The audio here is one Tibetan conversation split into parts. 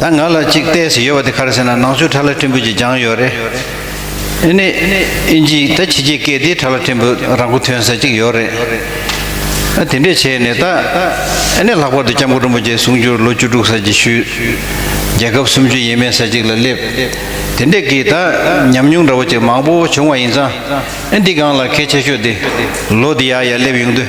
ད་ང་ལ་གཅིག་བལྟས་སུ་ཡོད་པ་དེ་ག་རེ་ཟེར་ན་ནང་ཆོས་གྲྭ་ལ་ཕྲན་བུ་ཅིག་སྦྱངས་ཡོད་རེད། ཨེ་ནས་ཨིན་ཇི་ད་ཕྱི་རྒྱལ་སྐད་དེའི་གྲྭ་ལ་ཕྲན་བུ་རང་མགོ་ཐོན་ས་ཅིག་ཡོད་རེད། ཨ་དེ་འདྲས་བྱས་ནས་ད་ཨེ་ནས་ལྷག་པར་དུ་སྐྱབས་མགོན་རིན་པོ་ཆེ་གསུང་རྒྱུར་ལོ་བཅུ་དྲུག་ས་ཅིག་ཞུས། རྒྱལ་ཁབ་སུམ་ཅུ་ཡས་མས་ས་ཅིག་ལ་སླེབས། དེ་འདྲས་ཀྱིས་ད་ཉམས་མྱོང་འདྲ་བོ་ཅིག་མང་པོ་བྱུང་བ་ཡིན་ཙང་ཨེ་འདི་སྒང་ལ་གལ་ཆེ་ཤོས་དེ་ལོ་འདི་ཡ་ཡ་སླེབས་ཡོང་དུས།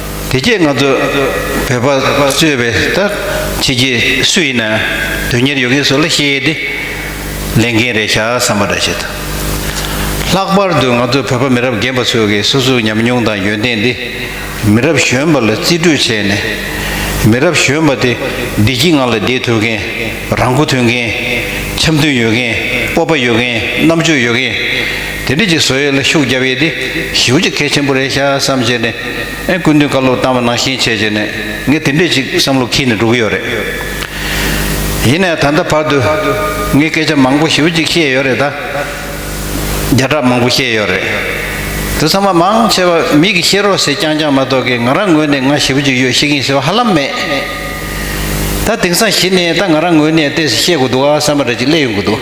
དེ་སྐད་ང་ཚོས་བོད་པ་གཙོས་པའི་ད་ཁྱེད་ཀྱི་སུ་ཡིན་ན་དོན་གཉེར་ཡོད་མཁན་ཚོ་ལ་བཤད་དེ། ལས་འགན་རེ་བཞག་བསམ་པ་འདྲ་བྱེད་ཐུབ། ལྷག་པར་དུ་ང་ཚོ་བོད་པ་མི་རབས་རྒན་པ་ཚོས་ཀྱི་སོ་སོའི་ཉམས་མྱོང་དང་ཡོན་ཏན་དེ་མི་རབས་གཞོན་པ་ལ་རྩིས་སྤྲོད་བྱས་ནས། མི་རབས་གཞོན་པ་དེ་བདེ་སྐྱིད་ངང་ལ་བསྡད་ཐུབ་མཁན། རང་མགོ་ཐོན་མཁན། འཆམ་མཐུན་ཡོད་མཁན་སྤོབས་པ་ཡོད་མཁན་རྣམ་དཔྱོད་ཡོད་མཁན། དེ་འདྲ་གྱི་བཟོ་ཡས་ལ་ཤུགས་རྒྱབ་ཡས་དེ་ཞིབ་ཅིག་གལ་ཆེན་པོ་རེ་བཞག་བསམ་བྱས་ནས། ཨེ་ཀུན་དུས་བཀའ་སློབ་བཏང་བ་ནང་བཞིན་བྱས་བྱས་ནས་ངས་དེ་འདྲས་ཅིག་བསམ་བློ་འཁྱིལ་ནས་འགྲོ་གི་ཡོད་རེད། ཡིན་ནའི་ད་ལྟ་བར་དུ་ངས་སྐད་ཆ་མང་པོ་ཞེའུ་ཅིག་བཤད་ཡོད་རེད་ད། བརྒྱ་ཕྲག་མང་པོ་བཤད་ཡོད་རེད། དུ་ཚང་མ་མང་ཆེ་བ་མིག་གིས་ཤེས་རོགས་ཟེར་རྐྱང་རྐྱང་མ་གཏོགས་ཀི་ང་རང་ངོས་ནས་ང་ཞེའུ་ཅིག་ཡོད་ཤེས་ཀིན་ཟེར་བ་ཧ་ལམ་མེད། ད་དེང་སང་གཞི་ནས་ད་ང་རང་ངོས་ནས་ལྟས་ཟེར་བཤད་དགོས་འདུག་ཨ་བསམ་པ་འདྲ་ཅིག་སླེབས་ཡོང་གི་འདུག།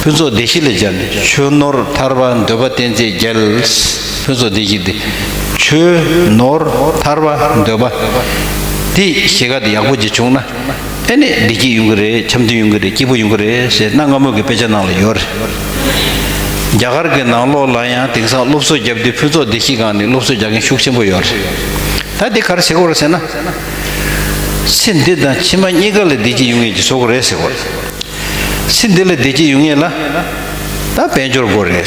ཕུན་ཚོགས་སྡེ་བཞི་ལས་སྦྱར་ནས་ཆོས་ནོར་ཐར་པ་འདོད་པ་བསྟན་རྩིས་རྒྱལ། ཕུན་ཚོགས་སྡེ་བཞི་སྟེ། ཆོས་ནོར་ཐར་པ་འདོད་པ། དེ་ཞེ་དགའ་དེ་ཡག་པོ་ཅིག་བྱུང་ན། ཨེ་ནས་བདེ་སྐྱིད་ཡོང་གི་རེད་འཆམ་མཐུན་ཡོང་གི་རེད་སྐྱིད་པོ་ཡོང་གི་རེད་ཟེར་གནའ་སྔ་མོ་གི་དཔེ་ཆ་ནང་ལ་ཡོད་རེད། རྒྱ་གར་གྱི་ནང་ལོགས་ལ་ཡང་དེང་སང་སློབ་གསོ་བརྒྱབ་སྟེ་ཕུན་ཚོགས་སྡེ་བཞི་སྒང་ནས་སློབ་གསོ་རྒྱག་མཁན་ཤུགས་ཆེན་པོ་ཡོད་རེད། ད་དེ་ག་རེ་བྱེད་དགོས་རེད་ཟེར་ན། ཚེ་འདི་དང་ཕྱི་མ་གཉིས་ཀ་ལ་བདེ་སྐྱིད་ཡོང་ངེས་ཀྱི་བཟོ་དགོས་རེད་ཟེར་དགོས་རེད། ཚེ་འདི་ལ་བདེ་སྐྱིད་ཡོང་ངེས་ལ། ད་དཔལ་འབྱོར་དགོས་རེད།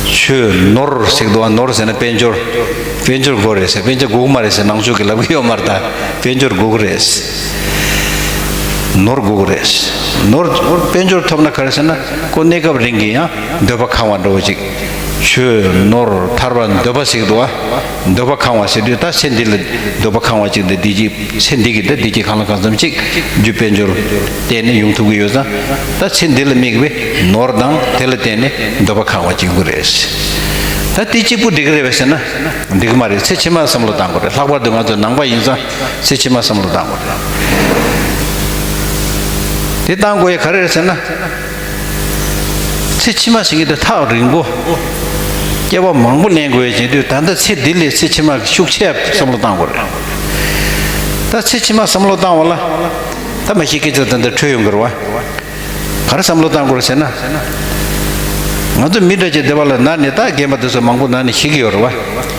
ཁྱོས་ནོར་ཟེགས་འདུག་ཨ་ནོར་ཟེར་ན་དཔལ་འབྱོར། དཔལ་འབྱོར་དགོས་རེད་ཟེར་དཔལ་འབྱོར་དགོས་མ་རེད་ཟེར་ནང་ཆོས་ཀྱི་ལབ་གི་ཡོད་མ་རེད་ད་དཔལ་འབྱོར་དགོས་རེད། ནོར་དགོས་རེད། ནོར་དཔལ་འབྱོར་ཐོབ་ན་ག་རེ་ཟེར་ན་ཁོ་གནས་སྐབས་རིང་གི་ཡང་འདོད་པ་གང་བ་འགྲོ་གཅིག། ཁྱོས་ནོར་ཐར་བ་འདོད་པ་ཟེགས་འདུག་ཨ། འདོད་པ་གང་བ་ཟེར་དུས་ད་ཚེ་འདི་ལ་འདོད་པ་གང་བ་གཅིག་འདི་འདི་གཅིག་ཚེ་འདི་གི་ད་འདི་གཅིག་གང་ལ་གང་འཚམ་གཅིག་རྒྱུ་དཔལ་འབྱོར་བརྟེན་ནས་ཡོང་ཐུབ་ཀྱི་ཡོད་ཙང་ད་ཚེ་འདི་ལ་དམིགས་པའི་ནོར་དང་དེ་ལ་བརྟེན་ནས་འདོད་པ་གང་བ་གཅིག་ཡོང་གི་རེད། ད་དེ་གཅིག་པོ་འགྲིག་གི་རེད་བས་ཟེར་ན་འགྲིག་གི་མ་རེད་ཚེ་ཕྱི་མར་བསམ་བློ་བཏང་དགོས་རེད་ལྷག་པར་དུ་ང་ཚོ་ནང་པ་ཡིན་ཙང་ཚེ་ཕྱི་མར་བསམ་བློ་བཏང་དགོས་རེད། དེ་བཏང་དགོས་ཡ་ག་རེ་རེད་ཟེར་ན། ཚེ་ཕྱི་མ་ཞིག་གི་དུས་ཐག་རིང་པོ། སྐྱེ་བ་མང་པོ་གནས་དགོས་ཀྱི་དུས་ད་ལྟ་ཚེ་འདི་ལས་ཚེ་ཕྱི་མ་གི་ཤུགས་ཆེ་བསམ་བློ་བཏང་དགོས་རེད། ད་ཚེ་ཕྱི་མ་བསམ་བློ་བཏང་བ་ལ། ད་མ་ཤི་སྐད་ཅོག་ད་ལྟ་འཕྲོས་ཡོང་གི་རེད་བ། ག་རེ་བསམ་བློ་བཏང་དགོས་རེད་ཟེར་ན། ང་ཚོ་མི་འདྲ་ཅིག་སྡེ་བ་ལ་ན་ནས་ད་རྒན་པ་དེ་ཚོ་མང་པོ་ན་ནས་ཤི་གི་ཡོད་རེད་བ།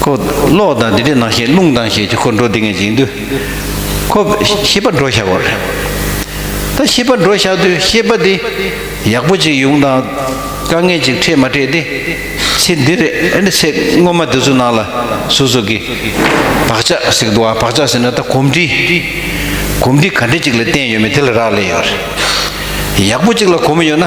ཁོ། གློག་དང་དེ་འདྲའི་ནང་ཞིང་རླུང་དང་ཞེས་ཀྱི་འཁོར་འགྲོ་འདི་ངས་འཇིག་འདུལ། ཁོ། ཤེས་པ་འགྲོ་བཞག་གོ། ད་ཤེས་པ་འགྲོ་བཞག་དུས་ཤེས་པ་འདི། ཡག་པོ་ཅིག་ཡོང་དང། དཀའ་ངལ་ཅིག་འཕྲད་མ་འཕྲད་དེ། ཚེ་འདི་རེད་ཨེ་འདྲ་ཚེ་སྔོན་མ་དེ་ཚོ་ནང་ལ་སོ་སོ་གི། བག་ཆགས་ཟིག་འདུག་ཨ་བག་ཆགས་ཟེར་ན་ད་གོམས་འདྲིས། གོམས་འདྲིས་ག་འདྲ་ཅིག་ལ་བརྟེན་ཡོད་མེད་དེ་ལ་རག་ལས་ཡོད་རེད། ཡག་པོ་ཅིག་ལ་གོམས་ཡོད་ན།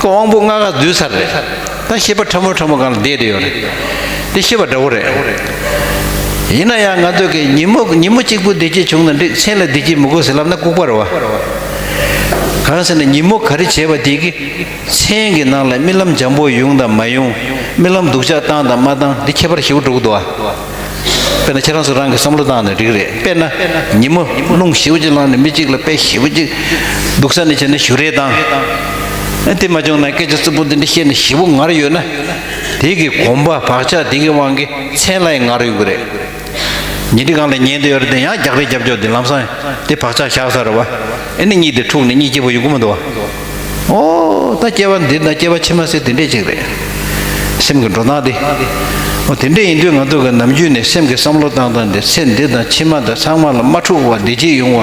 ཀོ་དབང་པོ་ལྔ་ག་འདུལ་ཚར་རེད། ད་ཤེས་པ་ཕྲ་མོ་ཕྲ་མོ་གང་ལ་བསྡད་དེ་ཡོད་རེད། འདི་ཤེས་པ་འདྲ་བོ་རེད། ཡིན་ན་ཡང་ང་ཚོ་གིས་ཉིན་མོ་ཉིན་མོ་གཅིག་པུ་བསྡད་ཀྱི་བྱུང་ན་འགྲིག་མཆན་ལ་བསྡད་ཀྱི་མི་དགོས་ཟེར་ལབ་ན་ལྐུག་པ་རེད་བ། གང་ཟེར་ན་ཉིན་མོ་ག་རེ་བྱས་པ་དེ་གི་མཆན་གི་ནང་ལ་རྨི་ལམ་འཇམ་པོ་ཡོང་དང་མ་ཡོང། རྨི་ལམ་སྡུག་ཅག་བཏང་དང་མ་བཏང་འདི་ཁྱད་པར་ཞེ་བོ་འགྲོ་གི་འདུག་བ། དཔེར་ན་ཁྱེད་རང་ཚོ་རང་གི་བསམ་བློ་བཏང་ནས་རིགས་རེད་དཔེར་ན། ཉིན་མོ་རླུང་བཞི་བོ་གཅིག་བླངས་ནས་མི་གཅིག་ལ་དཔེ་བཞི་བོ་གཅིག་འདུག་ས་ནས་བྱས་ན་ཞུ་རེ་བཏང། དེ་མ་བྱུང་ན་སྐད་ཆ་རྩུབ་པོ་འདི་འདྲ་བཤད་ནས་བཞི་བོ་ངར་ཡོད་ན། དེ་གི་གོམ་པ་བག་ཆགས་དེ་གི་དབང་གིས་མཚན་ལ་ཡང་ངར་ཡོད་ཀྱི་རེད། ཉིན་དེ་གང་ལ་ཉན་དུ་ཡོད་རེད་དེ་ཡང་རྒྱག་རེས་རྒྱབ་ཕྱོགས་དེ་ལམ་སང་དེ་བག་ཆགས་བཞག་ས་རེད་བ། ཨེ་ནི་གཉིད་དེ་འཁྲུགས་ནས་གཉིད་སྐྱིད་པོ་ཡོད་ཀྱི་མི་འདུག་བ། ཨོ། ད་སྐྱེ་བ་འདི་ད་སྐྱེ་བ་ཕྱི་མ་སྲིད་དེ་འདྲས་ཅིག་རེད། སེམས་ཀྱི་འགྲོ་སྟངས་འདི། ཨོ་དེ་འདྲས་ཡིན་དུས་ང་ཚོ་གི་ནམ་རྒྱུན་ནས་སེམས་ཀྱི་བསམ་བློ་བཏང་སྟངས་འདི་ཚེ་འདི་དང་ཕྱི་མ་དང་ཚང་མ་ལ་མ་འཁྲུག་བར་བདེ་སྐྱིད་ཡོང་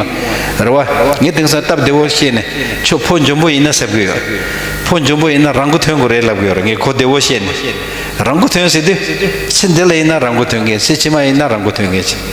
བར་རེ་བ། ངས་དེང་སང་སྟབས་བདེ་བོར་བཤད་ནས་ཆོག་ཕོ་འཇོན་པོ་ཡིན་ན་ཟེར་གི་ཡོད། ཕོ་འཇོན་པོ་ཡིན་ན་རང་གོ་ཐོན་དགོས་རེད་ལབ་གི་ཡོད་རེད་ངས་གོ་བདེ་བོ་བཤད་ནས་རང་གོ་ཐོན་ཟེར་དུས། ཚེ་འདི་ལ་ཡིན་ན་རང་གོ་ཐོན་མཁན་ཚེ་ཕྱི་མ་ཡིན་ན་རང་གོ་ཐོན་མཁན།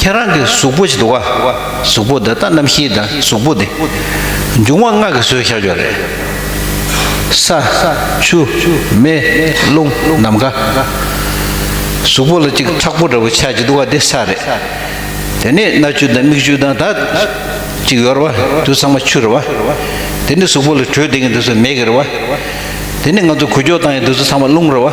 ཁྱེད་རང་གི་གཟུགས་པོ་ཞིག་འདུག་ག་གཟུགས་པོ་འདི་ད་རྣམ་ཤེས་དང་གཟུགས་པོ་འདི། འབྱུང་བ་ལྔ་གི་བཟོས་བཞག་ཀྱང་རེད། ས། ཆུ། མེ། རླུང། ནམ་མཁའ། གཟུགས་པོ་ལ་གཅིག་ཁྲག་པོ་འདྲ་བོ་ཆགས་ཀྱི་འདུག་ག་འདི་ས་རེད། དེ་ནས་སྣ་ཆུ་དང་མིག་ཆུ་དང་ད། གཅིག་ཡོ་རེ་བ་དུས་ཚང་མ་ཆུ་རེ་བ། དེ་ནས་གཟུགས་པོ་ལ་དྲོད་ལྡན་གྱི་འདི་ཚོ་མེ་གི་རེ་བ། དེ་ནས་ང་ཚོ་གུ་ཅོ་བཏང་ཡང་འདི་ཚོ་ཚང་མ་རླུང་རེ་བ།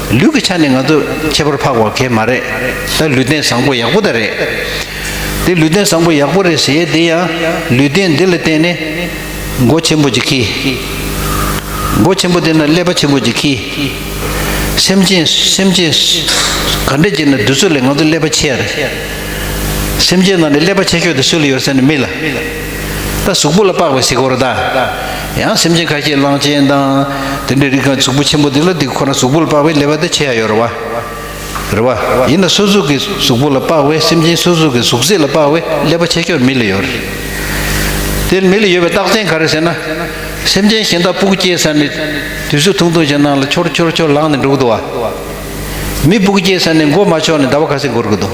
ལུས་ཀྱི་ཆ་ནས་ང་ཚོ་ཁྱད་པར་འཕགས་བ་གས་མ་རེད་ད་ལུས་རྟེན་བཟང་པོ་ཡག་པོ་ད་རེད། དེ་ལུས་རྟེན་བཟང་པོ་ཡག་པོ་རེད་ཟེར་དེ་ཡང་ལུས་རྟེན་འདི་ལ་བརྟེན་ནས་སྒོ་ཆེན་པོ་ཅིག་གིས། སྒོ་ཆེན་པོ་དེ་ན་ཀླད་པ་ཆེན་པོ་ཅིག་གིས། སེམས་ཅན་སེམས་ཅན། ག་འདྲ་ཅིག་ན་དུས་ཚོད་ལས་ང་ཚོ་ཀླད་པ་ཆེ་ཡ་རེད། སེམས་ཅན་ནང་ནས་ཀླད་པ་ཆེ་ཤོས་དེ་སུ་ལ་ཡོད་ཟེར་ན་མི་ལ། ད་གཟུགས་པོ་ལ་དཔག་པའི་གཟིགས་སྐོར་ད། ཡང་སེམས་ཅན་ཁ་ཤས་གླང་ཆེན་དང། དེ་འདྲའི་རིགས་གང་གཟུགས་པོ་ཆེན་པོ་འདི་ལ་འདི་ཁོ་ན་གཟུགས་པོ་ལ་དཔག་པའི་ལས་པ་དེ་བྱེད་ཡ་ཡོད་རེད་བ། རེད་བ། ཡིན་ན་སོ་སོ་གི་གཟུགས་པོ་ལ་དཔག་པའི་སེམས་ཅན་སོ་སོ་གི་གཟུགས་ཚད་ལ་དཔག་པའི་ལས་པ་བྱེད་ཁྱོད་མི་ལ་ཡོད་རེད། དེར་མི་ལ་ཡོད་པའི་རྟགས་མཚན་ག་རེ་ཟེར་ན། སེམས་ཅན་གཞན་དག་སྤུ་གུ་སྐྱེས་ས་ནས། དུས་སུ་ཐུང་ཐུང་ཞིག་སྣང་ལ་འཆོར་འཆོར་འཆོར་ལངས་ནས་འགྲོ་གི་འདུག་བ། མི་སྤུ་གུ་སྐྱེས་ས་ནས་མགོ་མ་ཕྱོགས་ནས་ཟླ་བ་ཁ་ཟིག་འགོར་གི་འདུག།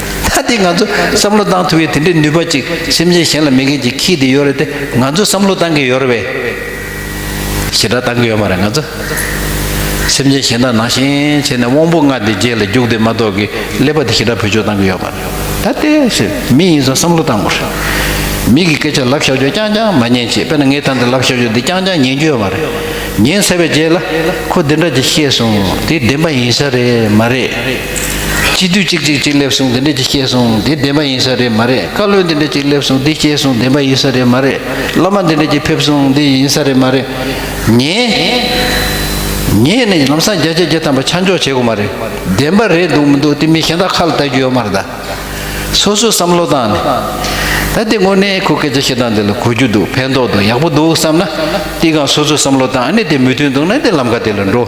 ད་དེ་ང་ཚོ་བསམ་བློ་བཏང་ཐུབ་ཡོད་དེ་འདྲའི་ནུས་པ་ཅིག་སེམས་ཅན་གཞན་ལ་མེད་མཁན་གྱི་ཁྱི་དེ་ཡོད་རེད་དེ་ང་ཚོ་བསམ་བློ་བཏང་གི་ཡོད་རེད་བས། ཞེ་དྲག་བཏང་གི་ཡོད་མ་རེད་ང་ཚོ་སེམས་ཅན་གཞན་དག་ནང་བཞིན་བྱས་ནས་དབང་པོ་ལྔ་དེ་རྗེས་ལ་རྒྱུགས་དེ་མ་གཏོགས་ཀྱི་ཀླད་པ་དེ་ཞེ་དྲག་བུ་ཅོ་བཏང་གི་ཡོད་མ་རེད་ད་དེ་ཞེས་མི་ཡིན་ཚོ་བསམ་བློ་བཏང་དགོས་རེད་མི་གི་སྐད་ཆ་ལབ་བཞག་རྒྱུ་རྐྱང་རྐྱང་མ་ཉན་ཅེས་དཔེར་ན་ངའི་ཐང་དེ་ལབ་བཞག་རྒྱུ་དེ་རྐྱང་རྐྱང་ཉན་རྒྱུ་ཡོད་མ་རེད་ཉན་ཟེར་བའི་རྗེས་ལ་ཁོ་འདི་འདྲ་ཅིག་ཤེས་སོང་དེ་བདེན་པ་ཡིན་ས་རེད་མ་རེད། སྤྱི་འཐུས་གཅིག་གཅིག་གཅིག་སླེབས་སོང་འདི་འདྲས་ཅིག་སྐྱེས་སོང་འདི་བདེན་པ་ཡིན་ས་རེད་མ་རེད་བཀའ་བློན་འདི་འདྲས་ཅིག་སླེབས་སོང་འདི་སྐྱེས་སོང་བདེན་པ་ཡིན་ས་རེད་མ་རེད་སློབ་མ་འདི་འདྲས་ཅིག་ཕེབས་སོང་འདི་ཡིན་ས་རེད་མ་རེད། ཉེས་ཉེས་ནི་ལམ་སང་རྒྱ་ཆེ་རྒྱ་དམ་པ་ཆ་འཇོག་བྱེད་དགོས་མ་རེད་བདེན་པ་རེད་འདུག་མི་འདུག་དེ་མིན་གཞན་དག་ཁ་ལ་བལྟ་རྒྱུ་ཡོད་མ་རེད་ད། སོ་སོའི་བསམ་བློ་དང་ནི། ད་དེ་དངོས་གནས་ཁོ་སྐད་ཆ་བཤད་སྟངས་འདི་ལ་གོ་རྒྱུ་འདུག་ཕན་ཐོགས་འདུག་ཡག་པོ་འདུག་བསམ་ན། དེ་གང་སོ་སོའི་བསམ་བློ་དང་ནི་དེ་མི་མཐུན་འདུག་ན་དེ་ལམ་ཁ་དེ་ལ་འགྲོ།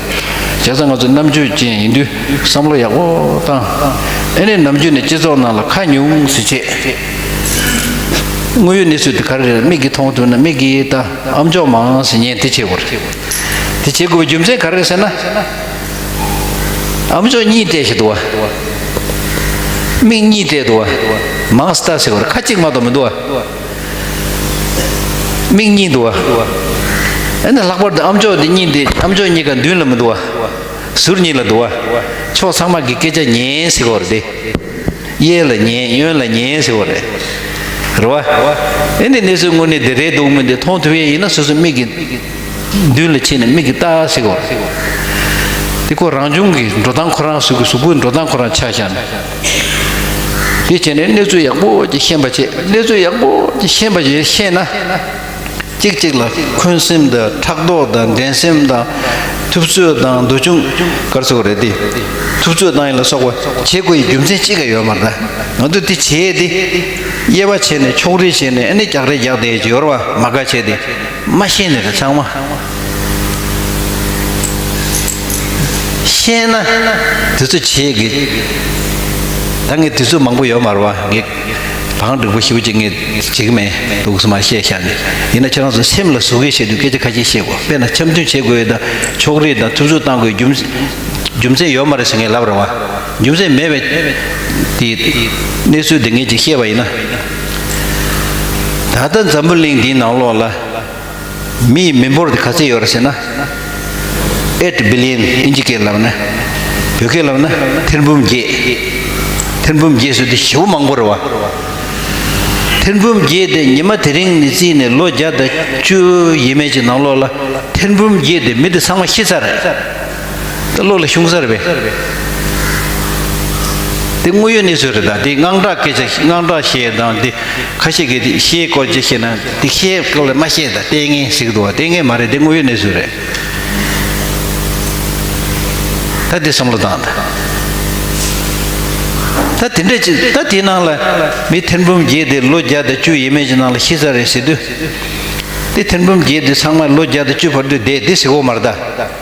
བྱས་ཙང་ང་ཚོ་རྣམ་དཔྱོད་ཅན་ཡིན་དུས་བསམ་བློ་ཡག་པོ་བཏང། ཨེ་ནས་ནམ་རྒྱུན་ནས་སྤྱི་ཚོགས་ནང་ལ་ཁ་ཉུང་ཟིག་བྱེད། དངོས་ཡོད་གནས་ཚུལ་དེ་ག་རེ་རེད་མིག་གིས་མཐོང་ཐུབ་ན་མིག་གིས་ལྟ་ཨམ་ཅོག་མང་ཟིག་ཉན་དེ་བྱེད་དགོས་རེད། དེ་བྱེད་དགོས་པའི་རྒྱུ་མཚན་ག་རེ་རེད་ཟེར་ན། ཨམ་ཅོག་གཉིས་བལྟས་ཞིག་འདུག་བ། མིག་གཉིས་བལྟས་འདུག་བ། མང་ཟིག་ལྟ་ཟེར་དགོས་རེད་ཁ་གཅིག་མ་གཏོགས་མི་འདུག་བ། མིག་གཉིས་འདུག་ཨ། ཨེ་ན་ལྷག་པར་དུ་ཨམ་ཅོག་འདི་གཉིས་འདི་ཨམ་ཅོག་གཉིས་ཀ་མདུན་ལ་མི་འདུག་ཨ། ཟུར་གཉིས་ལ་འདུག་ཨ། ཕྱོགས་ཚང་མ་གི་སྐད་ཆ་ཉན་ཟེར་བ་རེད་དེ། གཡས་ལ་ཉན་གཡོན་ལ་ཉན་ཟེར་བ་རེད། རེད་བ། ཨེ་འདི་གནས་ཚུལ་དངོས་གནས་འདི་རེད་འདུག་མོད་འདི་མཐོང་ཐུབ་ཡས་ཡིན་ན་སོ་སོའི་མིག་གི། མདུན་ལ་ཕྱིན་ནས་མིག་གི་བལྟ་ཟེར་བ་རེད། འདི་ཁོ་རང་ཆུང་གི་འགྲོ་སྟངས་ཁོ་རང་གཟུགས་གི་གཟུགས་པོའི་འགྲོ་སྟངས་ཁོ་རང་ཆགས་བཞག་ནས། དེ་བྱས་ནས་གནས་ཚུལ་ཡག་པོ་ཅིག་ཤེས་པ་བྱེད་གནས་ཚུལ་ཡག་པོ་ཅིག་ཤེས་པ་ཞིག་ཤེས་ན། གཅིག་གཅིག་ལ་འཁོན་སེམས་དང་ཕྲག་དོག་དང་འགྲན་སེམས་དང། ཐུབ་ཚོད་དང་འདུ་ཆུང། སྐར་ཚོགས་རེད་དེ། ཐུབ་ཚོད་དང་ཡིན་ལ་སོགས་པ་བྱེད་དགོས་ཡི་རྒྱུ་མཚན་གཅིག་ག་ཡོད་མ་རེད། ང་ཚོས་དེ་བྱས་ཏེ། དབྱེ་བ་བྱས་ནས་ཕྱོགས་རིས་བྱས་ནས་ཨ་ནི་རྒྱག་རེས་རྒྱག་དེ་ཅིག་ཡོར་བ་མ་དགའ་བྱས་ཏེ། མ་ཤེས་ནི་རེ་ཚང་མ་ཤེས་ན་དུས་ཚོད་ཆེ་གེགས། ད་ངས་དུས་ཚོད་མང་པོ་ཡོད་མ་རུང་བ་གེགས། གང་འགྲིག་པོ་ཞིབ་ཅིག་ངས་བྱེད་ཀྱི་མེད་འདུག་སུ་མ་ཤེས་ཤག་ནི་ཡིན་ན་ཁྱེད་རང་ཚོ་སེམས་ལ་ཟུག་གེ་བྱེད་དུས་སྐད་ཆ་ཁ་ཤས་བཤད་དགོས་དཔེར་ན་འཆམ་མཐུན་བྱེད་དགོས་དང་ཕྱོགས་རིས་དང་ཐུབ་ཚོད་བཏང་དགོས་རྒྱུ་རྒྱུ་མཚན་ཡོད་མ་རེད་ཟེར་ངས་ལབ་རུང་བ་རྒྱུ་མཚན་མེད་པའི་དེ་གནས་ཚུལ་དེ་ངས་ཅིག་བཤད་པ་ཡིན་ན། ད་ལྟ་འཛམ་བུ་གླིང་འདིའི་ནང་ལོགས་ལ་མི་ཡི་མི་འབོར་དེ་ག་ཚོད་ཡོད་རེད་ཟེར་ན། Eight Billion ཨིན་ཇི་སྐད་ལབ་ན། བོད་སྐད་ལབ་ན་ཐེར་འབུམ་བརྒྱད། ཐེར་འབུམ་བརྒྱད་ཟེར་དུས་ཞེ་བོ་མང་པོ་རེད་བ། ཐེར་འབུམ་བརྒྱད་དེ་ཉི་མ་དེ་རིང་ནས་བརྩིས་ནས་ལོ་བརྒྱ་དང་བཅུ་ཡས་མས་ཀྱི་ནང་ལོགས་ལ་ཐེར་འབུམ་བརྒྱད་དེ་མི་དེ་ཚང་མ་ཤི་ཚར་རེད། ལྟ་ལོག་ལ་ཤུང་སར་བས། དེ་དངོས་ཡོད་གནས་ཚུལ་རེད་ད་དེའི་དངངས་སྐྲག་སྐད་ཆ་དངངས་སྐྲག་བཤད་དང་དེ་ཁ་ཤས་ཀྱིས་དེ་ཤའི་སྐོར་ཅིག་བཤད་ན་དེ་ཤའི་སྐོར་ལས་མ་བཤད་ད་ལྟས་ངན་ཟིག་འདུག་བ་ལྟས་ངན་མ་རེད་དེ་དངོས་ཡོད་གནས་ཚུལ་རེད། ད་དེ་བསམ་བློ་བཏང་ད། ད་དེ་འདྲ་ཅིག་ད་དེའི་ནང་ལ་མི་ཐེར་འབུམ་བརྒྱད་དེ་ལོ་བརྒྱ་དང་བཅུ་ཡས་མས་ཀྱི་ནང་ལ་ཤི་ས་རེད་ཟེར་དུས། དེ་ཐེར་འབུམ་བརྒྱད་དེ་ཚང་མ་ལོ་བརྒྱ་དང་བཅུ་བར་དུ་བསྡད་དེ་ཟིག་འོག་མར་ད།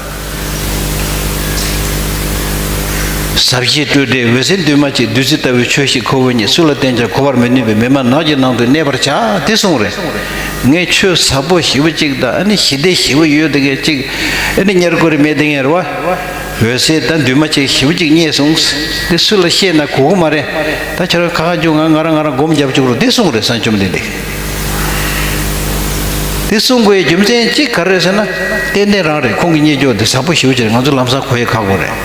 ཟབ་ཞི་སྤྲོས་བྲལ་འོད་གསལ་འདུས་མ་བྱས་བདུད་རྩི་ལྟ་བུའི་ཆོས་ཤིག་ཁོ་བོ་ཉིད་སུ་ལ་བསྟན་ཀྱང་གོ་བར་མི་ནུས་པའི་མི་མ་ནག་གི་ནང་དུ་གནས་པར་བྱ་དེ་གསུངས། རེ་ངའི་ཆོས་ཟབ་པོ་བཞི་བོ་གཅིག་དང་ཨ་ནི་ཞི་བདེ་བཞི་བོ་ཡོད་དེ་ངས་གཅིག། ཨ་ནི་ཉེར་མཁོ་རིས་མེད་དེ་ངས་རེ་བ། འོད་གསལ་དང་འདུས་མ་བྱས་བཞི་བོ་གཅིག་རྙེད་གསུངས། འདི་སུ་ལ་བཤད་ན་གོ་གི་མ་རེད། ད་ཁྱེད་རང་ཁ་ཁ་བྱུང་ང་ང་རང་ང་རང་སྒོམ་རྒྱབ་བཅུག་རོགས་དེ་གསུངས། རེ་ས་བཅོམ་ལྡན་འདས། འདི་གསུང་དགོས་རྒྱུ་མཚན་གཅིག་ག་རེད་ཟེར་ན། ཏན་ཏན་རང་རེད་ཁོང་གི་གཉེན་སྐྱོང་དེ་བཟང་པོ་ཞིག་བྱེད་ང་ཚོ་ལམ་སང་གོ་ཡི་ཁག་པོ་རེད།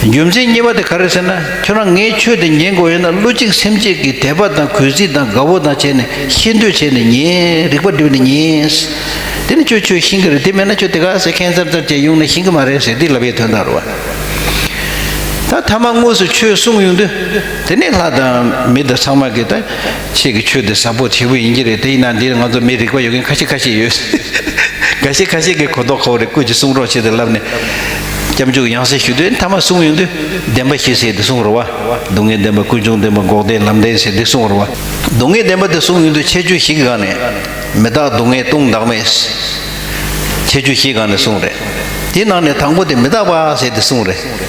རྒྱུ་མཚན་གཉིས་པ་དེ་ག་རེད་ཟེར་ན་ཁྱོད་རང་ངའི་ཆོས་དེ་ཉན་དགོས་ཡོད་ན་བསླུ་གཅིག་སེམས་གཅིག་གིས་དད་པ་དང་གུས་བརྩི་དང་དགའ་བོ་དང་བྱས་ནས་ཤེས་འདོད་བྱས་ནས་ཉན་རིག་པ་འགྲུབ་ནས་ཉན། དེ་ནི་ཁྱོད་ཆོས་ཤེས་གི་རེད་དེ་མེད་ན་ཁྱོད་དེ་ག་ཟེར་མཁན་ཙར་ཙར་བྱས་ཡོང་ནས་ཤེས་གི་མ་རེད་ཟེར་འདི་ལབ་ཡའི་དོན་དང་རོ། ད་ཐ་མ་དངོས་སུ་ཆོས་གསུང་ཡོང་དུས་དེ་ནས་ལྷ་དང་མི་དང་ཚང་མ་གིས་ད། ཁྱེད་ཀྱི་ཆོས་འདི་བཟང་པོ་ཆེ་བོ་ཡིན་གྱི་རེད་དེ་ཡིན་ན་འདིར་ང་ཚོ་མི་རིག་པ་ཡོད་མཁན་ཁ་ཤས་ཁ་ཤས་ཡོད། འགའ་ཤས་ཁ་ཤས་ཀྱི་གོ་རྟོགས་ཁོ་བོ་རེ་བསྐུར་གྱི་གསུང་རོགས་ཞེས་དེ་ལབ་ནས། སྐྱབས་འཇུག་ཡང་སེ་ཞུ་དོན་མཐའ་མ་གསུངས་ཡོང་དུས་བདེན་པ་ཞིག་ཟེར་དེ་གསུངས་རོགས་བ། སྡུག་བསྔལ་བདེན་པ་ཀུན་འབྱུང་བདེན་པ་འགོག་བདེན་ལམ་བདེན་ཟེར་དེ་གསུངས་རོགས་བ། སྡུག་བསྔལ་བདེན་པ་དེ་གསུངས་ཡོང་དུས་ཁྱེད་ཆོས་ཞིག་གི་སྒང་ནས། མི་བདག་སྡུག་བསྔལ་ལྟུང་བདག་མེད། ཁྱེད་ཆོས་ཞིག་གི་སྒང་ནས་གསུངས་རེད། དེའི་ནང་ནས་དང་པོ་དེ་མི་བདག་པ་ཟེར་དེ་གསུངས་རེད།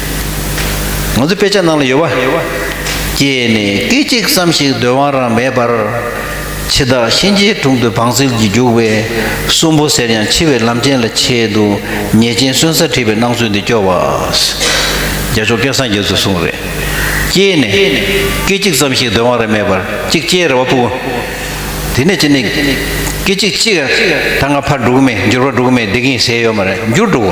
ང་ཚོའི་དཔེ་ཆ་ནང་ལ་ཡོད་པ། ཀྱེ་ནི་སྐད་ཅིག་ཙམ་ཞིག་སྡོད་དབང་རང་མེད་པར། འཆི་བདག་གཤིན་རྗེའི་དྲུང་དུ་བང་སིལ་གྱིས་རྒྱུག་པའི་གསོན་པོ་ཟེར་ཡང་འཆི་བའི་ལམ་ཆེན་ལ་ཆེད་དུ་ཉེས་ཅན་གསོན་སར་ཁྲིད་པའི་སྣང་ཚུལ་འདི་སྐྱོ་བ། རྒྱ་མཆོག་སྐལ་བཟང་རྒྱལ་ཚོས་གསུངས་རེད། ཀྱེ་ནི་སྐད་ཅིག་ཙམ་ཞིག་སྡོད་དབང་རང་མེད་པར་གཅིག་སྐྱེས་རེ་བ་སྤུ། དེ་ནས་ཅི་ནི། སྐད་ཅིག་གཅིག། ད་ང་ཕར་འགྲོ་གི་མེད་འགྱུར་བ་འགྲོ་གི་མེད་བསྡད་ཀྱིན་ཟས་ཡོད་མ་རེད་འགྱུར་འགྲོ།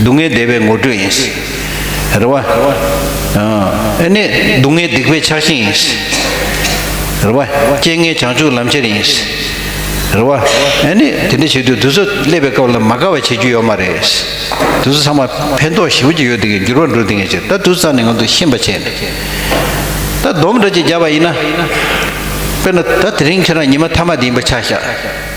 སྡུག་བསྔལ་བདེ་བའི་ངོ་སྤྲོད་ཡིན། རེ་བ། ཨེ་ནས་སྡུག་བསྔལ་སྡིག་པའི་ཆགས་ཞེན་ཡིན། རེ་བ། རྐྱེན་ངན་བྱང་ཆུབ་ལམ་ཁྱེར་ཡིན། རེ་བ། ཨེ་ནས་དེ་འདྲ་བྱེད་དུས་དུས་ཚོད་སླེབས་པའི་སྐབས་ལ་མ་དགའ་བ་བྱེད་རྒྱུ་ཡོད་མ་རེད། དུས་ཚོད་ཚང་མ་ཕན་ཐོགས་ཞིབ་ཀྱི་ཡོད་དེ་གའི་འགྱུར་བ་འགྲོ་དེ་གའི་ཕྱིར་ད་དུས་ཚང་ནས་ང་ཚོ་ཤེས་པ་བྱས་ནས། ད་སྡོམ་འདྲ་ཅིག་བརྒྱབ་པ་ཡིན་ན། དཔེར་ན་ད་དེ་རིང་ཁྱེད་རང་ཉི་མ་ཐ་མ་དེ་ཡིན་པ་ཆགས་ཤག།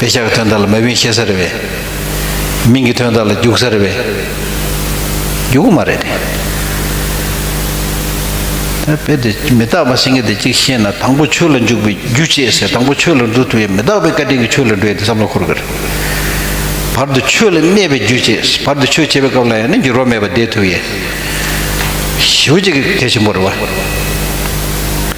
བའི་ཤ་གི་དོན་དག་ལ་མ་བིན་ཤེས་ས་རེད་བས། མིང་གི་དོན་དག་ལ་རྒྱུག་ས་རེད་བས། རྒྱུག་གི་མ་རེད་དེ། ད་དཔེ་དེ་མི་རྟག་པ་སེང་གེ་དེ་གཅིག་ཤེས་ན་དང་པོ་ཆོས་ལ་འཇུག་པའི་རྒྱུ་བྱེད་ཟེར་དང་པོ་ཆོས་ལ་འགྲོ་དུས་ཡང་མི་རྟག་པའི་བཀའ་དྲིན་གྱིས་ཆོས་ལ་འགྲོ་ཡི་དེ་བསམ་བློ་འཁོར་གི་རེད། བར་དུ་ཆོས་ལ་གནས་པའི་རྒྱུ་བྱེད་བར་དུ་ཆོས་བྱེད་པའི་སྐབས་ལ་ཡང་ནི་འགྱུར་བ་མེད་པར་བསྡད་ཐུབ་ཡས། ཞི་བ་གཅིག་གི་དེ་བཞིན་པོ་རེད་བ།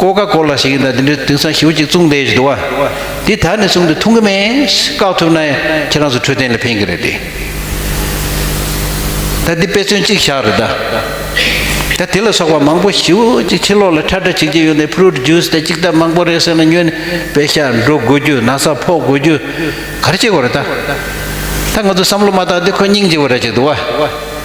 ཀོ་ཀ་ཀོ་ལ་ཞིག་ཡིན་ད་དེ་འདྲའི་དེང་སང་ཞེའུ་གཅིག་བཙུགས་འདས་ཀྱི་འདུག་བ། འདི་ད་ནས་བཟུང་སྟེ་འཐུང་གི་མེད། བཀག་ཐུབ་ན་ཁྱེད་རང་ཚོ་འཕྲོད་བསྟེན་ལ་ཕན་གི་རེད་དེ། ད་འདི་དཔེ་མཚོན་གཅིག་བཞག་རེད་ད། ད་དེ་ལ་སོགས་པ་མང་པོ་ཞེའུ་གཅིག་ཕྱི་ལོག་ལ་ཁྲ་ཁྲ་བྱེད་ཀྱི་ཡོད་ནའི Fruit Juice དེ་གཅིག་ད་མང་པོ་རེད་ཟེར་ན་སྨྱོས་ནས་བེ་ཤ་འགྲོ་དགོས་རྒྱུ་ན་ས་ཕོག་དགོས་རྒྱུ་ག་རེ་བྱེད་དགོས་རེད་ད། ད་ང་ཚོ་བསམ་བློ་མ་བཏང་སྟེ་ཁོ་སྙིང་རྗེ་བོ་ར་ཅིག་འདུག་བ།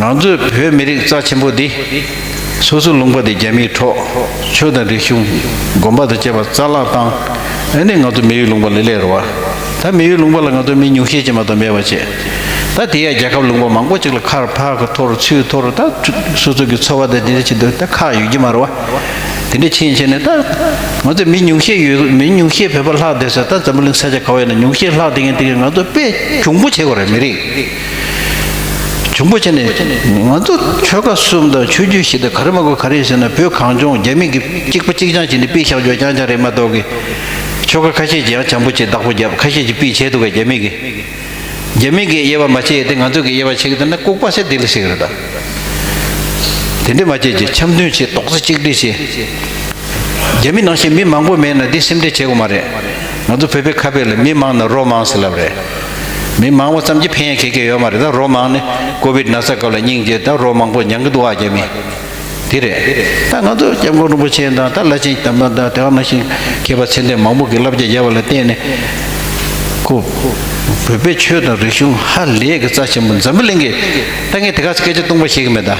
ང་ཚོའི་བོད་མི་རིགས་རྩ་ཆེན་པོ་འདི། སོ་སོའི་ལུང་པ་དེ་རྒྱ་མིའི་གྲོགས། ཆོས་དང་རིག་གཞུང། དགོན་པ་དང་བཅས་པ་རྩ་བརླག་བཏང། འོན་ཏེ་ང་ཚོ་མི་ཡུལ་ལུང་པ་ལས་ལས་རོ། ད་མི་ཡུལ་ལུང་པ་ལ་ང་ཚོ་མི་ཉུང་ཤས་ཅན་མ་ཏོག་མེད་པར་བྱེད། ད་དེ་ཡང་རྒྱལ་ཁབ་ལུང་པ་མང་པོ་ཅིག་ལ་ཁར་ཕག་གི་ཐོར་ཚུའི་ཐོར་ད་སོ་སོ་གི་འཚོ་བ་དེ་འདི་འདྲ་བྱེད་དུས་ད་ཁ་ཡོད་ཀྱི་མ་རོ། དེ་འདྲ་ཕྱིན་ཕྱིན་ནས་ད། ང་ཚོ་མི་ཉུང་ཤས་ཡོད་མི་ཉུང་ཤས་བོད་པ་ལྷག་བསྡད་ས་ད་འཛམ་བུ་གླིང་ས་ཆ་གང་བས་ན་ཉུང་ཤས་ལྷག་བསྡད་མཁན་དེ་གས་ང་ཚོ་དཔེ་གྱོང་པོ་བྱེད་དགོས་རེད་མི་རིགས། བྱུང་པོ་ཆེ་ནས་ང་ཚོ་ཆོལ་ཁ་གསུམ་དང་ཆོས་རྒྱུད་བཞི་དང་ག་རེ་མ་གོ་ག་རེ་ཟེར་ན་བོད་གངས་ལྗོངས་རྒྱ་མི་གི་གཅིག་པ་གཅིག་རྐྱང་བྱས་ནས་པི་བཞག་རྒྱོ་རྐྱང་རྐྱང་རེད་མ་གཏོགས་ཀི་ཆོལ་ཁ་ཁ་ཤས་ཀྱི་ཡང་བྱམས་པོ་བྱས་བདག་པོ་བརྒྱབ་ཁ་ཤས་ཀྱི་པི་བྱས་འདུག་ག་རྒྱ་མི་གི་རྒྱ་མི་གི་དབྱེ་བ་མ་ཕྱེས་ཏེ་ང་ཚོ་གི་དབྱེ་བ་ཕྱེ་གི་འདུག་ན་ལྐུག་པ་ཟེར་དེ་ལས་ཤིག་རེད་ད། དེ་འདྲས་མ་བྱེད་ཀྱི་འཆམ་མཐུན་བྱེད་རྡོག་རྩ་གཅིག་སྒྲིལ་བྱེད། རྒྱ་མི་ནང་བཞིན་མི་མང་པོ་མེད་ན་འདི་སེམས་ཁྲལ་བྱེད་དགོས་མ་རེད། ང་ཚོ་བོད་པའི་ཁ་དཔེ་ལ་མི་མང་ན་རོ་མང་ཟེར་ལབ་རེད། མི་མང་བོ་ཙམ་གྱིས་ཕན་ཡོད་ཁེགས་ཀྱི་ཡོད་མ་རེད་ད་རོ་མང་ནི་ཀོ་བིད་ན་ཚ་སྐབས་ལ་སྙིང་རྗེ་ད་རོ་མང་བོ་མྱང་གི་འདུག་ཨ་རྒྱ་མི་དེ་རེད་ད་ང་ཚོ་སྐྱབས་མགོན་རིན་པོ་ཆེ་དང་ད་བླ་ཆེན་དམ་པ་དང་དེ་བ་ན་ཞིང་མཁས་པ་ཚད་ལྡན་མང་བོ་གིས་བསླབ་བྱ་བརྒྱབ་པ་ལ་བརྟེན་ནས་ཁོ་བོད་པའི་ཆོས་དང་རིག་གཞུང་ཧ་ལས་གི་རྩ་ཆེན་པོ་འཛམ་བུ་གླིང་གི་ད་ངས་དེ་ག་ཚོད་སྐད་ཆ་ཏུང་པ་བཤད་གི་མེད་ད།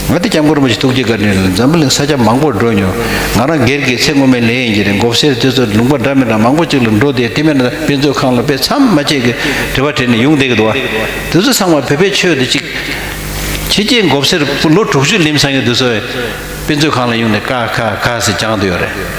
ང་འདི་སྐྱབས་མགོན་རིན་པོ་ཆེ་ཐུགས་རྗེ་དགའ་དྲན་རེད་འཛམ་བུ་གླིང་ས་ཆ་མང་པོར་འགྲོ་མྱོང། ང་རང་སྒེར་གྱིས་ཚེ་སྔོན་མའི་ལས་ཡིན་གྱི་རེད་འགོ་སེར་དེ་ཚོ་ལུང་པ་འདྲ་མི་འདྲ་མང་པོ་ཅིག་ལ་འགྲོ་བསྡད་དེ་མེད་ན་དཔེ་མཛོད་ཁང་ལ་དཔེ་མཚམས་མ་ཆད་ཀྱི་དྲི་བ་དྲིས་ནས་ཡོང་བསྡད་ཀྱི་འདུག་དེ་ཚོ་ཚང་མ་བོད་པའི་ཆོས་དེ་གཅིག་ཕྱི་རྒྱལ་འགོ་སེར་པོ་ལོ་དྲུག་ཅུ་ལིམ་སང་གི་དུས་ཚོད་དཔེ་མཛོད་ཁང་ལ་ཡོང་ནས་ཀ་ཁ་ཁ་ཟེར་རྒྱང་དུ་ཡོད་རེད།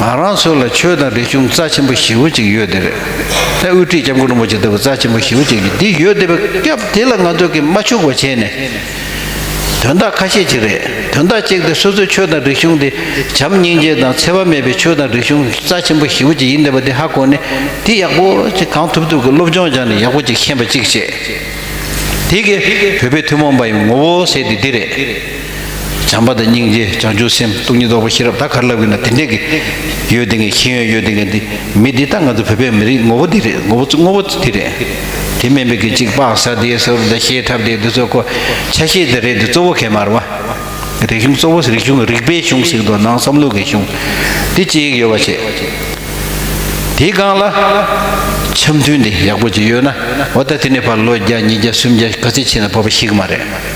ང་རང་ཚོ་ལ་ཆོས་དང་རིག་གཞུང་རྩ་ཆེན་པོ་བཞི་བོ་གཅིག་ཡོད་དེ་རེད། ལྷའི་དབུ་ཁྲིད་སྐྱབས་མགོན་རིན་པོ་ཆེ་ལྟ་བུ་རྩ་ཆེན་པོ་བཞི་བོ་གཅིག་གི་འདི་ཡོད་དེ་བས་སྐབས་དེ་ལ་ང་ཚོ་གིས་མ་ཕྱུག་པ་བྱས་ནས། དོན་དག་ཁ་ཤས་ཅིག་རེད་དོན་དག་གཅིག་དེ་སོ་སོའི་ཆོས་དང་རིག་གཞུང་དེ་བྱམས་སྙིང་རྗེ་དང་འཚེ་བ་མེད་པའི་ཆོས་དང་རིག་གཞུང་རྩ་ཆེན་པོ་བཞི་བོ་གཅིག་ཡིན་དེ་བ་དེ་ཧ་གོ་ནས་འདི་ཡག་པོ་ཅིག་གང་ཐུབ་ཐུབ་ཀྱི་སློབ་སྦྱོང་སྦྱང་ནས་ཡག་པོ་ཅིག་ཤེས་པ་ཅིག་བྱེད་དེ་གི་བོད་པའི་ཐུན་མོང་པ་ཡི་ངོ་བོ་ཟེར་དེ་འདི་རེད། བྱམས་པ་དང་སྙིང་རྗེ་བྱང་ཆུབ་སེམས་སྟོང་ཉིད་རྟོགས་པ་ཤེས་རབ་ད་ག་རེ་ལབ་གི་ན་དེ་འདྲས་ཀི། ཡོད་དེ་ངས་ཤེས་ཡོན་ཡོད་དེ་ངས་འདི་མི་འདི་ལྟ་ང་ཚོ་བོད་པའི་མི་རིགས་ངོ་བོ་འདི་རེད་ངོ་བོ་དངོས་པོ་དེ་རེད། དེ་སྨན་པའི་གི་གཅིག་པག་གསར་བདེའི་ས་རུབ་དང་ཤེས་འཁྲབ་དེ་འདི་ཚོ་ཁོ་ཆ་ཤེས་དེ་རེད་དེ་གཙོ་བོ་གད་མར་བ། རིག་གཞུང་གཙོ་བོ་རིག་གཞུང་རིག་པའི་གཞུང་ཟིག་དོ་ནང་བསམ་ལུགས་གི་གཞུང་དེ་གཅིག་ཡོད་པ་བྱེད། དེ་གང་ལ། འཆམ་མཐུན་དེ་ཡག་པོ་བྱེད་ཡོད་ན་འོ་ད་དེ་ནས་བར་ལོ་བརྒྱ་ཉིས་བརྒྱ་སུམ་བརྒྱ་ག་ཚད་ཕྱིན་ན་བབ་པ་ཞིག་མ་རེད།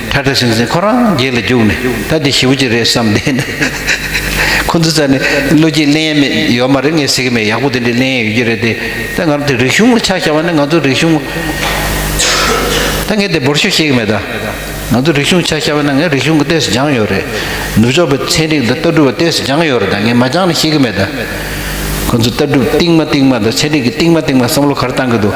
ཁྲ་ཁྲ་ཟིང་ཟིང་ཁོ་རང་རྒྱལ་ལ་བརྒྱུགས་ནས་ད་འདི་ཞི་བུ་ཅི་རེད་བསམ་བསྡད་ནས། ཁོ་ཚོ་ཚ་ནས་བློ་སྐྱིད་གླེང་ཡས་མེད་ཡོད་མ་རེད་ངས་ཟེར་གྱི་མེད་ཡག་པོ་དེ་འདྲའི་གླེང་ཡས་ཡོད་ཀྱི་རེད་དེ་ད་ང་རང་དེ་རིག་གཞུང་ལ་ཆ་བཞག་པ་ནི་ང་ཚོ་རིག་གཞུང་ད་ངས་དེ་འབོར་ཤོག་བཤད་ཀྱི་མེད་ད་ང་ཚོ་རིག་གཞུང་ཆ་བཞག་པ་ན་ངས་རིག་གཞུང་གི་ལྟས་སུ་སྦྱངས་ཡོད་རེད་ནུབ་ཕྱོགས་པའི་ཚན་རིག་དང་ལྟ་གྲུབ་པ་ལྟས་སུ་སྦྱངས་ཡོད་རེད་ད་ངས་མ་སྦྱངས་ནི་ཤེས་ཀྱི་མེད་ད། ཁོ་ཚོ་ལྟ་གྲུབ་རྟིང་མ་རྟིང་མ་དང་ཚན་རིག་གི་རྟིང་མ་རྟིང་མ་བསམ་བློ་གར་བཏང་གི་འདུག།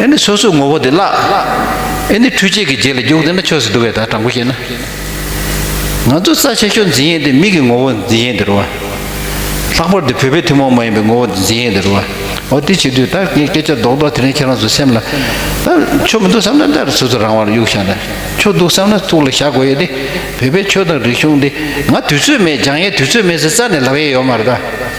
ཨེ་ནི་སོ་སོའི་ངོ་བོ་དེ་བརླག། ཨེ་ནི་འཕྲུལ་ཆས་ཀྱི་རྗེས་ལ་རྒྱུག་འདི་ན་ཆོས་སུ་འདུ་བས་ད་དྲང་པོ་བཤད་ན། ང་ཚོ་རྩ་ཆེ་ཤོས་འཛིན་ཡས་འདི་མིག་གི་ངོ་བོ་འཛིན་ཡས་འདི་རུ་བ། ལྷག་པར་དུ་བོད་པའི་ཐུན་མོང་མ་ཡིན་པའི་ངོ་བོ་འདི་འཛིན་ཡས་འདི་རུ་བ། འོ་དེ་བྱེད་དུས་ད་ངས་སྐད་ཆ་རྡོག་རྡོག་དེ་རིང་ཁྱེད་རང་ཚོ་སེམས་ལ། ད་ཆོས་མི་འདུག་བསམ་ན་ད་སོ་སོ་རང་དབང་ལ་གཡུག་བཞག་ན། ཆོས་འདུག་བསམ་ན་ཐུགས་ལ་བཞག་དགོས་ཡས་ཏེ། བོད་པའི་ཆོས་དང་རིག་གཞུང་འདི་ང་དུས་ཚོད་མེད་སྦྱང་ཡས་དུས་ཚོད་མེད་ཟེར་རྩ་ནས་ལབ་ཡས་ཡོད་མ་རེད་ད།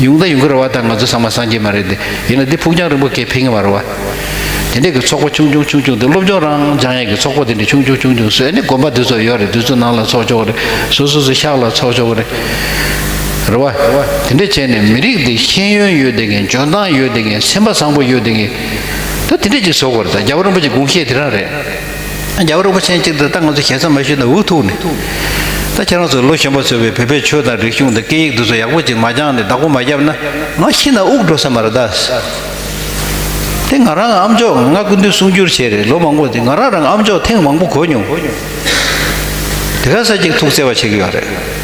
ཡུང་དང་ཡུང་ཁུ་ར་བ་དག་ང་ཚོ་ཚང་མ་སངས་རྒྱས་མ་རེད་དེ། ཡིན་ན་འདི་ཕུགས་རྒྱང་རིང་པོ་གས་ཕིང་བ་ར་བ། དེ་འདྲས་ཀྱི་ཚོགས་པ་ཆུང་ཆུང་ཆུང་ཆུང་དེ་སློབ་སྦྱོང་རང་སྦྱང་ཡས་ཀྱི་ཚོགས་པ་དེ་འདྲས་ཆུང་ཆུང་ཆུང་ཆུང་བཟོས་ནས་དགོན་པ་འདི་ཚོ་ཡོད་རེད་འདི་ཚོ་ནང་ལ་ཚོགས་ཆོག་རེད་སོ་སོ་སོ་ཤག་ལ་ཚོགས་ཆོག་རེད། ར་བ། དེ་འདྲས་བྱས་ནས་མི་རིགས་འདི་ཤེས་ཡོན་ཡོད་དེ་གས་འཇོན་ཐང་ཡོད་དེ་གས་སེམས་པ་བཟང་པོ་ཡོད་དེ་གས། ད་དེ་འདྲས་ཀྱི་བཟོ་དགོས་རེད་ད་རྒྱ་བོ་རིན་པོ་ཆེ་དགུང་ཤེས་དེ་རང་རེད། རྒྱལ་བ་རིན་པོ་ཆེན་གཅིག་དེ་ད་ང་ཚོ་གྱེས་ཚར་མ་ཞུས་ན་འུ་ཐུག་ནི། ད་ཁྱེད་རང་ཚོ་ལོ་གཞོན་པ་ཚོས་བོད་པའི་ཆོས་དང་རིག་གཞུང་དང་སྐད་ཡིག་འདི་ཚོ་ཡག་པོ་ཅིག་མ་སྦྱངས་ནས་བདག་པོ་མ་བརྒྱབ་ན་ང་ཤི་ན་དབུགས་འགྲོ་ས་མ་རེད་དཱ། དེ་ང་རང་ཨ་མཆོག་ང་སྐུ་མདུན་གསུང་བསྒྱུར་བྱས་རེད་ལོ་མང་པོ་འདི་ང་རང་རང་ཨ་མཆོག་ཐེངས་མང་པོ་གོ་མྱོང། དེ་ག་ས་ཅིག་ཐུགས་བརྩེ་བ་བྱེད་ཀྱི་ཡོད་རེད།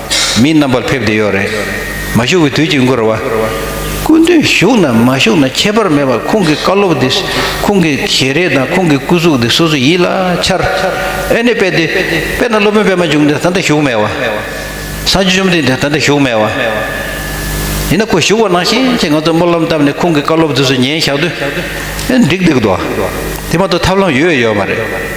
མི་རྣམ་པར་ཕེབས་བསྡད་ཡོད་རེད། མ་བཞུགས་པའི་དུས་ཀྱི་འགོར་བ། སྐུ་མདུན་བཞུགས་ནམ་མ་བཞུགས་ན་ཁྱད་པར་མེད་པར་ཁོང་གི་བཀའ་སློབ་དེ་ཁོང་གི་ཞལ་རས་དང་ཁོང་གི་སྐུ་གཟུགས་དེ་སོ་སོའི་ཡིད་ལ་འཆར། ཨེ་ནས་དཔེ་དེ་དཔེ་ན་སློབ་དཔོན་པད་མ་འབྱུང་འདི་ད་ལྟ་བཞུགས་མེད་བ། སངས་རྒྱས་བཅོམ་ལྡན་འདས་ད་ལྟ་བཞུགས་མེད་བ། ཡིན་ན་ཁོ་བཞུགས་པ་ནང་བཞིན་ཅེས་ང་ཚོས་སྨོན་ལམ་བཏབ་ནས་ཁོང་གི་བཀའ་སློབ་དེ་ཚོ་ཉན་བཞག་དུས། ཨེ་འགྲིག་འདུག་དོ། དེ་མ་གཏོགས་ཐབས་ལམ་ཡོད་ཡོད་མ་རེད།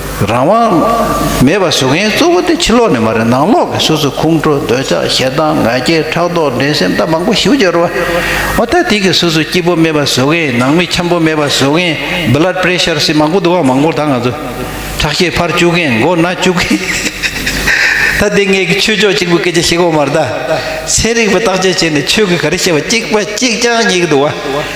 རང་དབང་མེད་པར་བཟོ་མཁན་གཙོ་བོ་དེ་ཕྱི་ལོགས་ནས་མ་རེད་ནང་ལོགས་ཀྱི་སོ་སོའི་ཁོང་ཁྲོ་འདོད་ཆགས་ཞེ་སྡང་ང་རྒྱལ་ཕྲག་དོག་འགྲན་སེམས་ད་མང་པོ་ཞིབ་བརྗོད་རོགས། ཨོ་ད་དེ་གི་སོ་སོའི་སྐྱིད་པོ་མེད་པར་བཟོ་མཁན་ནང་མི་འཁྱམ་པོ་མེད་པར་བཟོ་མཁན Blood Pressure སྲིད་མང་པོ་འདུག་ཨང་མང་པོ་ད་ང་ཚོ་ཁྲག་ཤེད་འཕར་བཅུག་མཁན་མགོ་ན་བཅུག་མཁན་ད་དེ་སྔའི་གི་ཆོས་ཕྱོགས་གཅིག་པོ་སྐད་ཆ་བཤད་གོ་མར་ད་ཚན་རིག་པ་བརྟག་དཔྱད་བྱས་ནས་ཆོས་གི་ག་རེ་བཤད་པ་གཅིག་པ་གཅིག་རྐྱང་ཉིག་འདུག་ཨ།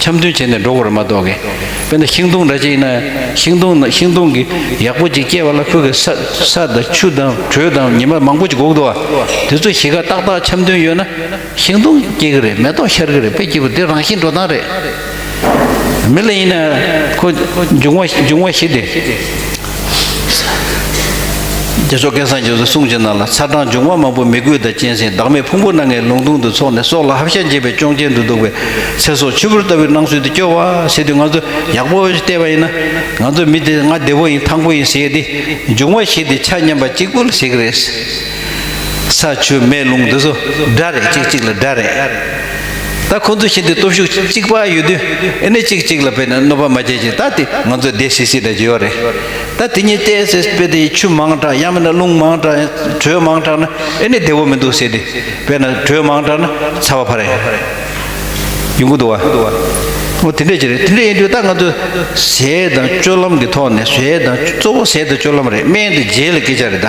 འཆམ་མཐུན་བྱས་ནས་འགྲོ་དགོས་ར་མ་གཏོགས་གི། དཔེར་ན་ཤིང་སྡོང་འདྲ་ཅིག་ཡིན་ན་ཤིང་སྡོང་ན་ཤིང་སྡོང་གི་ཡག་པོ་ཅིག་སྐྱེས་པ་ལ་ཁོས་གི་ས་ས་དང་ཆུ་དང་དྲོད་དང་ཉི་མ་མང་པོ་ཅིག་འགོག་འདུག་བ། དེ་ཚོ་གཞིས་ཀ་ཏག་ཏག་འཆམ་མཐུན་ཡོད་ན་ཤིང་སྡོང་སྐྱེ་གི་རེད་མེ་ཏོག་ཤར་གི་རེད་དཔེ་སྐྱིད་པོ་དེ་རང་བཞིན་འགྲོ་སྟངས་རེད། མི་ལ་ཡིན་ན་ཁོ་འབྱུང་བ་འབྱུང་བ་བཞི་སྟེ། རྒྱ་ཤོག་སྐལ་བཟང་རྒྱ་མཚོས་གསུངས་ཇི་གནང་ལ་ཚ་གྲང་འབྱུང་བ་མང་པོ་མི་རྒོད་དང་གཅན་ཟན་བདག་མེད་ཕུང་པོ་སྣ་ལྔའི་ལུང་སྟོང་དུ་འཚོགས་ནས་སྲོག་ལ་ཧབ་ཤ་འགྱེད་པའི་སྐྱོང་རྐྱེན་དུ་འདུག་པའི་ཚེ་སྲོག་ཕྱུར་བུར་ལྟ་བུའི་སྣང་ཚུལ་འདི་སྐྱོ་བ་ཟེར་དུས་ང་ཚོ་ཡག་པོ་བལྟས་པ་ཡིན་ན། ང་ཚོ་མི་དེ་ང་བདེ་བོ་ཡིན་ཐང་པོ་ཡིན་ཟེར་གྱི་འདི་འབྱུང་བ་ཞིག་དེ་ཆ་མཉམ་པ་གཅིག་པུ་ལ་ཟེར་གྱི་རེད། ས་ཆུ་མེ་རླུང་འདི་ཚོ་དགྲ་རེད་གཅིག་གཅིག་ལ་དགྲ་རེད། ད་ཁོང་ཚོ་བཞིན་དུ་སྟོབས་ཤུགས་གཅིག་པ་ཡོད་དུས་ཨེ་ནས་གཅིག་གཅིག་ལ་བས་ན་གནོད་པ་མ་བྱེད་ཅིག་ད་དེ་ང་ཚོ་བདེ་སིག་སིག་དྲག་གི་ཡོད་རེད། ད་དེ་གཉིས་བལྟས་ཟེར་བལྟས་དེ་ཆུ་མང་དྲགས་ཡང་མིན་ན་རླུང་མང་དྲགས་དྲོད་མང་དྲགས་ན་ཨེ་ནས་བདེ་བོ་མི་འདུག་ཟེར་དེ་བས་ན་དྲོད་མང་དྲགས་ན་ཚ་བ་ཕ་རེད། ཡོང་གི་འདུག་བ། དེ་འདྲས་ཀྱི་རེད་དེ་འདྲས་ཡིན་དུས་ད་ང་ཚོ་ཟས་དང་སྤྱོད་ལམ་གྱི་ཐོག་ནས་ཟས་དང་གཙོ་བོ་ཟས་དང་སྤྱོད་ལམ་རེད་སྨན་དང་རྗེས་ལ་སྐད་ཆ་རེད་ད།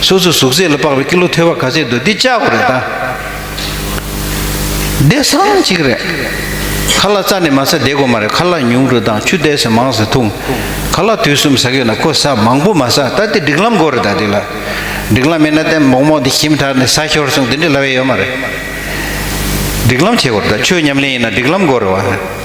སོ་སོའི་ཟུག་གཟེར་ལ་དཔག་པའི་ཀི་ལོ་ཐོས་པ་ག་ཚད་འདུག་འདི་ལྕགས་པོ་རེད་ད། བདེ་གསང་གཅིག་རེད། ཁ་ལག་རྩ་ནས་མ་ཟ་བདེ་གོ་མ་རེད་ཁ་ལག་ཉུང་དྲུག་དང་ཆུ་བདེ་ཟ་མང་ཟ་འཐུང། ཁ་ལག་དུས་གསུམ་ཟ་གི་ལ་ཁོ་ཟ་མང་པོ་མ་ཟ་ད་དེ་སྒྲིག་ལམ་དགོ་རེད་ད་དེ་ལ། སྒྲིག་ལམ་མེད་ན་ཏན་མོག་མོག་དེ་ཞིམ་དྲག་ནས་ཟ་ཤོར་སོང་དེ་འདྲའི་ལ་བས་ཡོད་མ་རེད། སྒྲིག་ལམ་བྱེད་དགོ་རེད་ད་ཆོས་ཉམས་ལེན་ཡིན་ན་སྒྲིག་ལམ་དགོ་རེད་བ།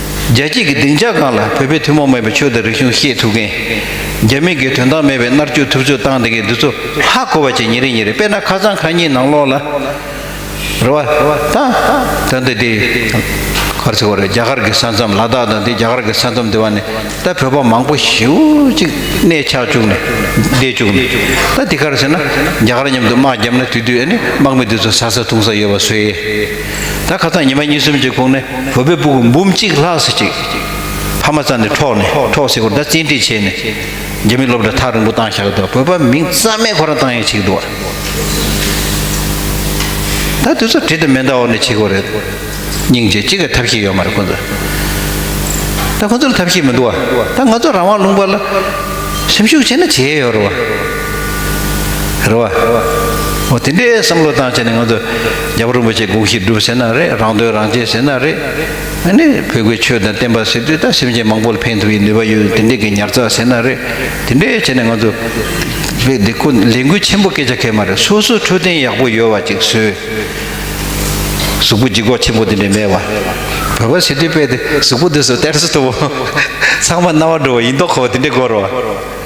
རྒྱལ་སྐྱེས་ཀྱི་སྡིངས་ཆ་གང་ལ་བོད་པའི་ཐུན་མོང་མིན་པའི་ཆོས་དང་རིག་གཞུང་ཤེས་ཐུབ་མཁན། རྒྱ་མི་སྒེར་དོན་དང་མེད་པའི་མནར་གཅོད་ཐུབ་ཚོད་བཏང་འདི་གའི་འདུ་ཚོ་ཧ་གོ་བ་བྱས་ཉིན་རེ་ཉིན་རེ་དཔེར་ན་ཁ་སང་ཁ་ཉིན་ནང་ལོག་ལ་རུ་བ་དང་དོན་དུ་དེ་གར་ཚེ་བར་རྒྱ་གར་གྱི་ས་མཚམས་ལ་དྭགས་དང་དེ་རྒྱ་གར་གྱི་ས་མཚམས་དེ་བར་ནས་ད་བོད་པ་མང་པོ་ཞིའུ་ཅིག་གནས་ཆགས་བཅུག་ནས་བསྡད་བཅུག་ནས་ད་དེ་གར་ཟེར་ན་རྒྱ་གར་མཉམ་དུ་དམག་བརྒྱབ་ན་དུས་དུས་ཨ་ནི་དམག་མི་དེ་ཚོ་ཟ་ས་འཐུང་ས་ཡོད་པ་བཟོས། ད་ཁ་སང་ཉི་མ་གཉིས་གསུམ་གྱི་གོང་ནས་བོད་པའི་སྤུ་གུ་འབུམ་གཅིག་ལྷག་སྲིད་ཅིག་ཕ་མ་རྩ་ནས་འཕྲོག་ནས་འཕྲོག་སྲིད་སྐོར་ད་བཙན་ཁྲིད་བྱས་ནས་རྒྱ་མི་སློབ་གྲྭ་ཐག་རིང་པོ་བཏང་བཞག་འདུག་བོད་པ་མིང་རྩ་མེད་ཁོ་རང་བཏང་ཡས་བྱེད་འདུག་ད་དེ་ཚོ་དྲི་དང་མེ་མདའ་འོག་ནས་བྱེད་དགོས་རེད་སྙིང་རྗེ་གཅིག་གི་ཐབས་ཤེས་ཡོད་མ་རེད་ཁོ་ཚོ་ད་ཁོ་ཚོར་ཐབས་ཤེས་མི་འདུག་བ་ད་ང་ཚོ་རང་དབང་ལུང་པ་ལ་སེམས་ཤུགས་ཆེ་ན་བྱེད་ཡས་ཡོད་རེད་བ་རེད་བ་འོ་དེ་འདྲའི་བསམ་བློ་བཏང་བྱས་ནས་ང་ཚོ་རྒྱ་བོད་རིན་པོ་ཆེ་འགུགས་ཤིག་སྒྲུབ་ཟེར་ན་རེད་རང་དོན་རང་གཅེས་ཟེར་ན་རེད། ཨ་ནི་བོད་གོས་ཆོས་དང་བསྟན་པ་ཟེར་དུས་ད་སེམས་ཅན་མང་པོ་ལ་ཕན་ཐོགས་ཡི་ནུས་པ་ཡོད་དེ་འདི་གི་ཉར་ཚགས་ཟེར་ན་རེད་དེ་འདྲས་བྱས་ནས་ང་ཚོ་བོད་འདི་ཁོ་ལས་འགུལ་ཆེན་པོ་སྐད་ཆ་ཁེལ་མ་རེད་སོ་སོ་འཕྲོད་བསྟེན་ཡག་པོ་ཡོད་བ་ཅིག་བཟོས། གཟུགས་པོ་འཇིགས་པ་ཆེན་པོ་འདི་འདྲས་མེད་བར་བོད་པ་ཟེར་དུས་དཔེ་དེ་གཟུགས་པོ་འདི་ཟོ་གཏེར་ཟོ་ཐུབ་བོ། ཚང་མ་རྣ་བ་འགྲོ་བ་ཡིན་མདོག་ཁོ་བོ་དེ་འདྲས་གོ་རོགས།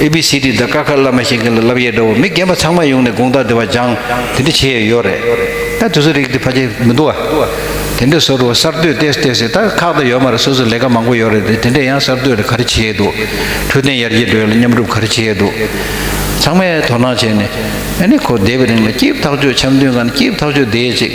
ཨེ་བྷི་སི་ཏི་དང་ཀ་ཁ་བླ་མ་བཞེངས་མཁན་ལ་བསླབ་ཡས་འདྲ་བོ་མི་རྒན་པ་ཚང་མ་ཡོང་ནས་དགོངས་དག་འདི་བ་སྦྱང་དེ་འདྲ་བྱེད་ཡས་ཡོད་རེད་ད་དུས་ཚོད་རིག་དེ་ཕ་ཆེ་མི་འདུག་བ། དེ་འདྲ་བཟོ་རུ་བ་གསར་གཏོད་བལྟས་སུ་བལྟས་སོས་ད་ཁག་ད་ཡོད་མ་རེད་སོ་སོ་ལས་ཀ་མང་པོ་ཡོད་རེད་དེ་དེ་འདྲ་ཡང་གསར་གཏོད་ལ་ག་རེ་བྱེད་ཡས་འདུག་འཕྲོད་བསྟེན་ཡར་རྒྱས་འགྲོ་ཡས་ལ་མཉམ་རུབ་ག་རེ་བྱེད་ཡས་འདུག་ཚང་མས་དོ་སྣང་བྱས་ནས་ཨ་ནི་ཁོ་འདས་པའི་རིང་ལ་སྐྱིབས་ཐག་ཆོད་འཆམ་མཐུན་ཁང་ནས་སྐྱིབས་ཐག་ཆོད་བསྡད་ཡས་ཅིག།